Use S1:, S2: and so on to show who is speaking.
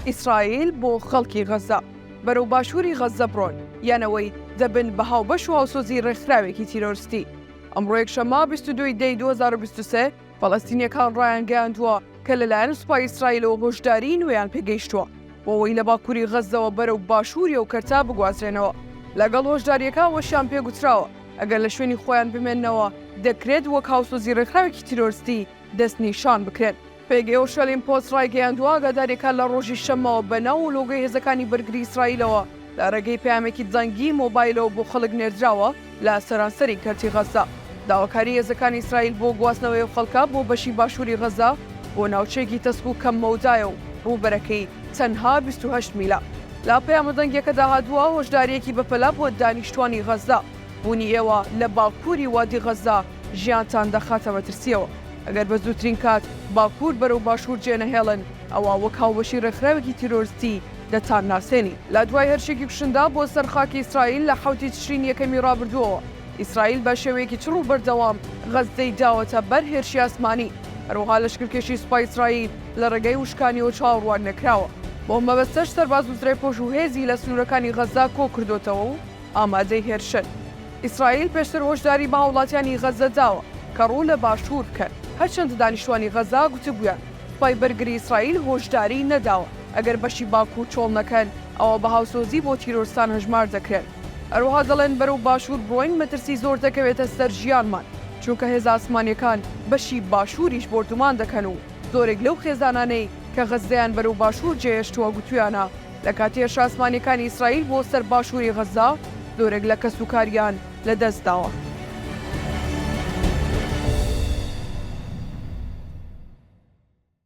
S1: ئیسرائیل بۆ خەڵکی غەززە. بەرەو باشووری غەززە بڕۆن، یان ئەوەی دەبن بە هاوبەش و هاوسۆزی ڕێکخراوێکی تیرۆرستی. ئەمڕۆ یەکشەممە بیست و دوو ی دەی دوو هەزار و بیست و سێ، فەلەستینییەکان ڕایانگەیاندووە کە لەلایەن سوپای ئیسرائیلەوە هۆشداریی نوێیان پێگەیشتووە بۆ ئەوەی لە باکووری غەززەوە بەرەو باشووری ئەو کەرتە بگوازرێنەوە. لەگەڵ هۆشدارییەکە ئەوەشیان پێگوتراوە، ئەگەر لە شوێنی خۆیان بمێننەوە، دەکرێت وەک هاوسۆزی ڕێکخراوێکی تیرۆرستی دەستنیشان بکرێن. پێگەی شەلیم پۆست ڕایگەیاندووە، ئاگادارییەکان لە ڕۆژی شەممەوە بە ناو و لۆگۆی هێزەکانی بەرگری ئیسرائیلەوە لە ڕێگەی پەیامێکی دەنگیی مۆبایلەوە بۆ خەڵک نێردراوە لە سەرانسەری کەرتی غەززە. داواکاریی هێزەکانی ئیسرائیل بۆ گواستنەوەی ئەو خەڵکە بۆ بەشی باشووری غەززە بۆ ناوچەیەکی تەسک و کەم مەودایە و ڕووبەرەکەی تەنها بیست و هەشت میلە. لە پەیامە دەنگیەکەدا هاتووە، هۆشدارییەکی بەپەلە بۆ دانیشتوانی غەززە، بوونی ئێوە لە باکووری وادی غەززە ژیانتان دەخاتە مەترسییەوە، ئەگەر بە زووترین کات باکوور بەرەو باشوور جێنەهێڵن، ئەوا وەک هاوبەشی ڕێکخراوێکی تیرۆرستی دەتان ناسێنین. لە دوای هێرشێکی کوشندە بۆ سەر خاکی ئیسرائیل لە حەوتی تشرینی یەکەمی ڕابردووەوە، ئیسرائیل بە شێوەیەکی چڕ و بەردەوام غەززەی داوەتە بەر هێرشی ئاسمانی، هەروەها لەشکرکێشی سوپای ئیسرائیل لە ڕێگەی وشکانیەوە چاوەڕوان نەکراوە، بەو مەبەستەش سەرباز و زرێپۆش و هێزی لە سنوورەکانی غەززە کۆ کردۆتەوە و ئامادەی هێرشن. ئیسرائیل پێشتر هۆشداری بە هاوڵاتیانی غەززە داوە کە ڕوو لە باشوور بکەن، هەرچەندە دانیشتوانی غەززە گوتبوویان سوپای بەرگری ئیسرائیل هۆشداریی نەداوە ئەگەر بەشی باکوور چۆڵ نەکەن ئەوا بە هاوسۆزی بۆ تیرۆرستان هەژمار دەکرێن. هەروەها دەڵێن بەرەو باشوور بڕۆین مەترسی زۆر دەکەوێتە سەر ژیانمان، چونکە هێزە ئاسمانییەکان بەشی باشووریش بۆردومان دەکەن و زۆرێک لەو خێزانانەی کە غەززەیان بەرەو باشوور جێهێشتووە گوتویانە لە کاتی هێرشە ئاسمانییەکانی ئیسرائیل بۆ سەر باشووری غەززە زۆرێک لە کەسوکاریان لەدەستداوە.